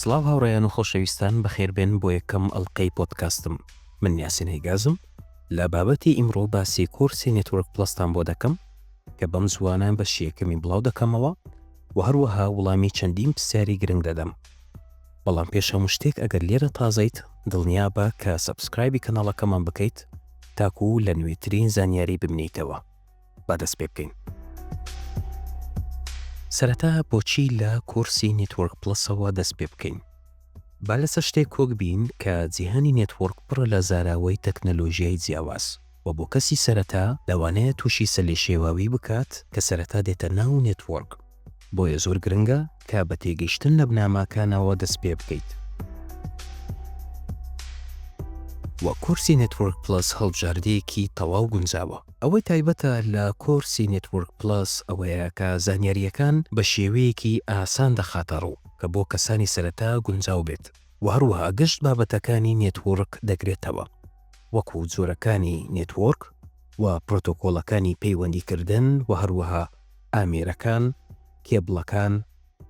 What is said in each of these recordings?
سڵاو هاوڕێیان و خۆشەویستان بەخێربێن بۆ یەکەم ئەڵلقەی پۆدکاستم من نیاسین هەیگازم لە بابەتی ئیمڕۆ باسی کورسی نێتوەرک پلستان بۆ دەکەم کە بەم زوانە بە شیەکەمی بڵاو دەکەمەوە و هەروەها وڵامی چەندین پرسیاری گرنگ دەدەم بەڵام پێش هەموو شتێک ئەگەر لێرە تازەیت دڵنیا بە کە سەبسکرایبی کەناڵەکەمان بکەیت تاکوو لە نوێترین زانیاری ببنیتەوە با دەست پێ بکەین. سەرەتا بۆچی لە کۆرسی نێتوۆرک پڵەسەوە دەست پێ بکەین؟ با لەسەر شتێک کۆک بین کە جیهانی نێتوۆرک پڕە لە زاراوەی تەکنەلۆژیای جیاواز و بۆ کەسی سەرەتا لەوانەیە تووشی سەلێشێواوی بکات کە سەرەتا دێتە ناو نێتوۆرک، بۆیە زۆر گرنگە کە بە تێگەیشتن لە بناماکانەوە دەست پێ بکەیت. وە کۆرسی نێتوەرک پڵەس هەڵبژاردەیەکی تەواو گونجاوە. ئەوەی تایبەتە لە کۆرسی نێتوەرک پڵەس ئەوەیە کە زانیارییەکان بە شێوەیەکی ئاسان دەخاتە ڕوو کە بۆ کەسانی سەرەتا گونجاو بێت و هەروەها گشت بابەتەکانی نێتوەرک دەگرێتەوە وەکو جۆرەکانی نێتوەرک و پرۆتۆکۆڵەکانی پەیوەندیکردن و هەروەها ئامێرەکان، کێبڵەکان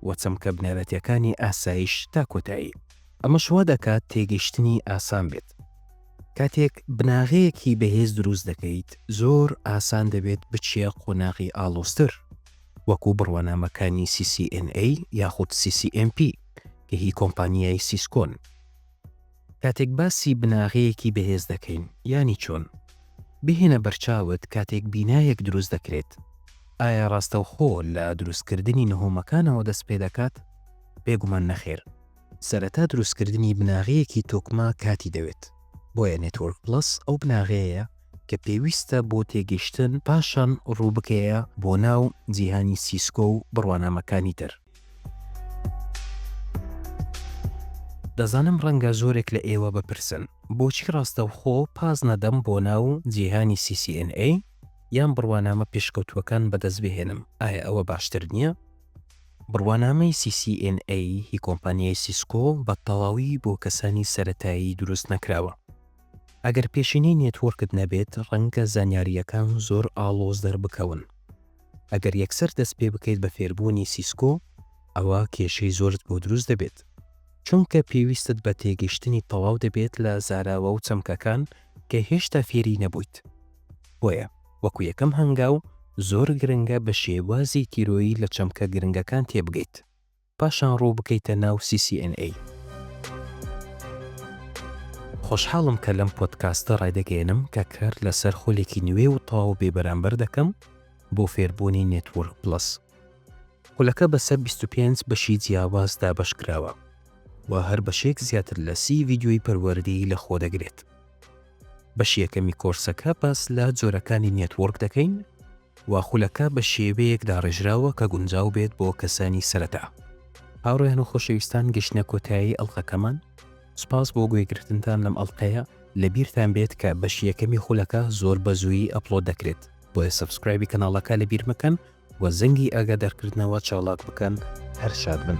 و چەمکە بنەرەتیەکانی ئاسایش تا کۆتایی. ئەمەش وا دەکات تێگەیشتنی ئاسان بێت. کاتێک بناغەیەکی بەهێز دروست دەکەیت، زۆر ئاسان دەبێت بچیە قۆناغی ئاڵۆزتر، وەکو بڕوانامەکانی CCNA یاخود CCNP کە هی کۆمپانیای سیسکۆن. کاتێک باسی بناغەیەکی بەهێز دەکەین یانی چۆن؟ بهێنە بەرچاوت کاتێک بینایەک دروست دەکرێت ئایا ڕاستەوخۆ لە دروستکردنی نهۆمەکانەوە دەست پێدەکات؟ بێگومان نەخێر. سەرەتا دروستکردنی بناغەیەکی تۆکمە کاتی دەوێت، بۆیە نێتۆرک پڵەس ئەو بناغەیەیە کە پێویستە بۆ تێگەشتن پاشان ڕووبکەیە بۆ ناو جیهانی سیسکۆ و بڕوانامەکانی تر. دەزانم ڕەنگە زۆرێک لە ئێوە بپرسن، بۆچی ڕاستەوخۆ پاس نەدەم بۆ ناو جیهانی CCNA یان بڕوانامە پێشکەوتووەکان بەدەست بهێنم، ئایا ئەوە باشتر نییە؟ بڕوانامەی CCNA ی کۆمپانیای سیسکۆ بە تەواوی بۆ کەسانی سەرەتایی دروست نەکراوە. ئەگەر پێشینەی نێتوۆرکت نەبێت، ڕەنگە زانیارییەکان زۆر ئاڵۆز دەربکەون. ئەگەر یەکسەر دەست پێ بکەیت بە فێربوونی سیسکۆ ئەوا کێشەی زۆرت بۆ دروست دەبێت چونکە پێویستت بە تێگەشتنی تەواو دەبێت لە زاراوە و چەمکەکان کە هێشتا فێری نەبوویت بۆیە وەکو یەکەم هەنگاو زۆر گرنگە بە شێوازی تیرۆیی لە چەمکە گرنگەکان تێبگەیت. پاشان ڕوو بکەیتە ناو CCNA. خۆشحاڵم کە لەم پۆدکاستە ڕایدەگەیەنم کە کار لەسەر خولێکی نوێ و تەواو بێبەرامبەر دەکەم بۆ فێربوونی نێتوۆرک پڵەس. خولەکە بەسەر بیست و پێنج بەشی جیاواز دابەشکراوە و هەر بەشێک زیاتر لە سی ڤیدیۆی پەروەردەیی لەخۆدەگرێت. بەشی یەکەمی کۆرسەکە باس لە جۆرەکانی نێتوۆرک دەکەین و خولەکە بە شێوەیەک داڕێژراوە کە گونجاو بێت بۆ کەسانی سەرەتا. هاوڕێیان و خۆشەویستان گەشتنە کۆتایی ئەڵقەکەمان، سوپاس بۆ گوێگرتنتان لەم ئەڵقەیە، لەبیرتان بێت کە بەشی یەکەمی خولەکە زۆر بەزوویی ئەپڵۆد دەکرێت، بۆیە سەبسکرایبی کەناڵەکە لەبیر مەکەن و زەنگی ئاگادارکردنەوە چاڵاک بکەن، هەر شاد بن.